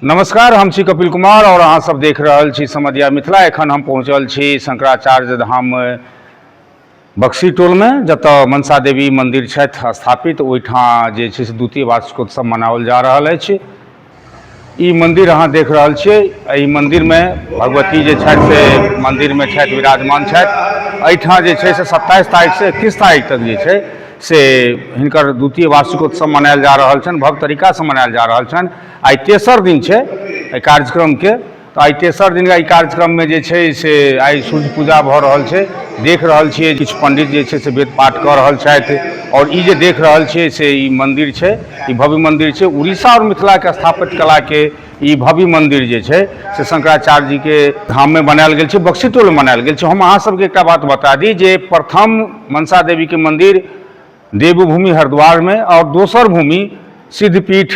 नमस्कार हम छी कपिल कुमार और अहाँ सब देख रहल छी समधिया मिथिला एखन हम पहुँचल छी शंकराचार्य धाम बक्सी टोलमे जतय मनसा देवी मन्दिर छथि स्थापित ओहिठाम जे छै से द्वितीय वार्षिकोत्सव मनाओल जा रहल अछि ई मन्दिर अहाँ देख रहल छियै एहि मन्दिरमे भगवती जे छथि से मन्दिरमे छथि विराजमान छथि एहिठाम जे छै से सत्ताइस तारीखसँ एकतीस तारीख तक जे छै से हिनकर द्वितीय वार्षिकोत्सव मनायल जा रहल छनि भव्य तरीकासँ मनायल जा रहल छनि आइ तेसर दिन छै एहि कार्यक्रमके तऽ आइ तेसर दिन एहि कार्यक्रममे जे छै से आइ सूर्य पूजा भऽ रहल छै देख रहल छियै किछु पंडित जे छै से वेद पाठ कऽ रहल छथि आओर ई जे देख रहल छियै से ई मंदिर छै ई भव्य मंदिर छै उड़ीसा आओर मिथिलाके स्थापित कलाके ई भव्य मंदिर जे छै से शंकराचार्य जी के धाम में बनायल गेल छै बक्सीटोल में बनायल गेल छै हम अहाँ सबके एकटा बात बता दी जे प्रथम मनसा देवी के मंदिर देवभूमि हरिद्वारमे आओर दोसर भूमि सिद्धपीठ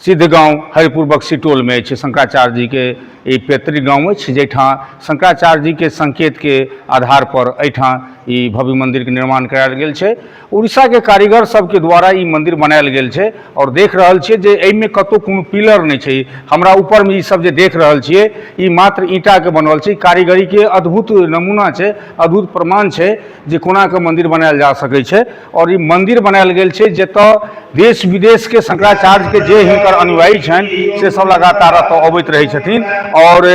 सिद्ध गाँव हरिपुर बक्सी टोलमे अछि शंकराचार्य जीके ई पैतृक गाँव अछि जाहिठाम शंकराचार्य जीके संकेतके आधार पर एहिठाम ई भव्य मंदिरके निर्माण करायल गेल छै उड़ीसाके कारीगर सबके द्वारा ई मंदिर बनायल गेल छै आओर देख रहल छियै जे एहिमे कतहु कोनो पिलर नहि छै हमरा ऊपरमे ई सब जे देख रहल छियै ई मात्र ईंटाके बनल छै कारीगरीके अद्भुत नमूना छै अद्भुत प्रमाण छै जे कोनाके मन्दिर बनायल जा सकै छै आओर ई मन्दिर बनायल गेल छै जतऽ देश विदेशके शंकराचार्यके जे हिनकर अनुयायी छनि से सब लगातार एतऽ अबैत रहै छथिन आओर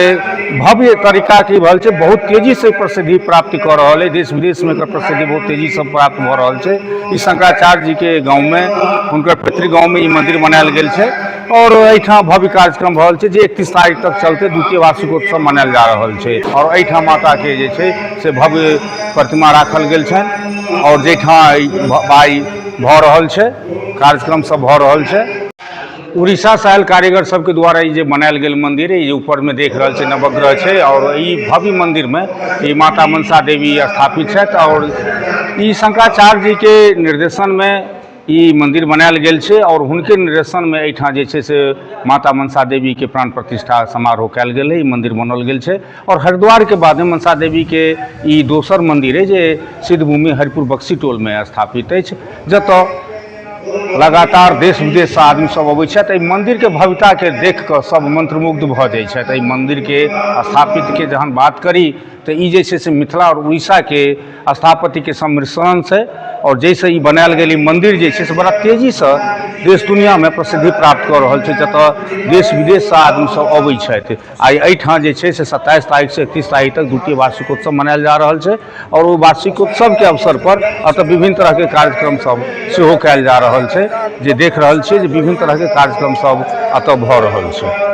भव्य तरीकाके भऽ रहल छै बहुत तेजीसँ प्रसिद्धि प्राप्ति कऽ रहल अइ देश विदेशमे एकर प्रसिद्धि बहुत तेजीसँ प्राप्त भऽ रहल छै ई शंकराचार्य जीके गाँवमे हुनकर पैतृक गाँवमे ई मन्दिर बनायल गेल छै आओर एहिठाम भव्य कार्यक्रम भऽ रहल छै जे एकतीस तारीख तक चलतै द्वितीय वार्षिकोत्सव मनायल जा रहल छै आओर एहिठाम माताके जे छै से भव्य प्रतिमा राखल गेल छनि आओर जाहिठाम बाइ भऽ रहल छै कार्यक्रम सब भऽ रहल छै उड़ीसा से आयल कारीगर सबके द्वारा ई जे बनायल गेल मंदिर है ऊपर में देख रहा है नवग्रह है और ई भव्य मंदिर में ई माता मनसा देवी स्थापित है और ई शंकराचार्य जी के निर्देशन में ई मन्दिर बनायल गेल छै आओर हुनके निर्देशनमे एहिठाम जे छै से माता मनसा देवीके प्राण प्रतिष्ठा समारोह कयल गेल अइ मन्दिर बनल गेल छै आओर हरिद्वारके बादमे मनसा देवीके ई दोसर मन्दिर अइ जे सिद्धभूमि हरिपुर बक्सी टोलमे स्थापित अछि जतय लगातार देश विदेशसँ आदमीसभ अबैत छथि एहि मन्दिरके भव्यताके देख कऽ सभ मन्त्रमुग्ध भऽ जाइत छथि एहि मन्दिरके स्थापितके जहन बात करी तऽ ई जे छै से मिथिला आओर उड़ीसाके स्थापत्यके सम्मिश्रण छै आओर जाहिसँ ई बनायल गेल ई मन्दिर जे छै से बड़ा तेजीसँ देश दुनिआँमे प्रसिद्धि प्राप्त कऽ रहल छै जतय देश विदेशसँ आदमीसभ अबै छथि आ एहिठाम जे छै से सत्ताइस तारीखसँ एकतीस तारीख तक द्वितीय वार्षिकोत्सव मनायल जा रहल छै आओर ओ वार्षिकोत्सवके अवसरपर एतय विभिन्न तरहके कार्यक्रमसभ सेहो कयल जा रहल छै जे देख रहल छियै जे विभिन्न तरहके कार्यक्रमसभ एतय भऽ रहल छै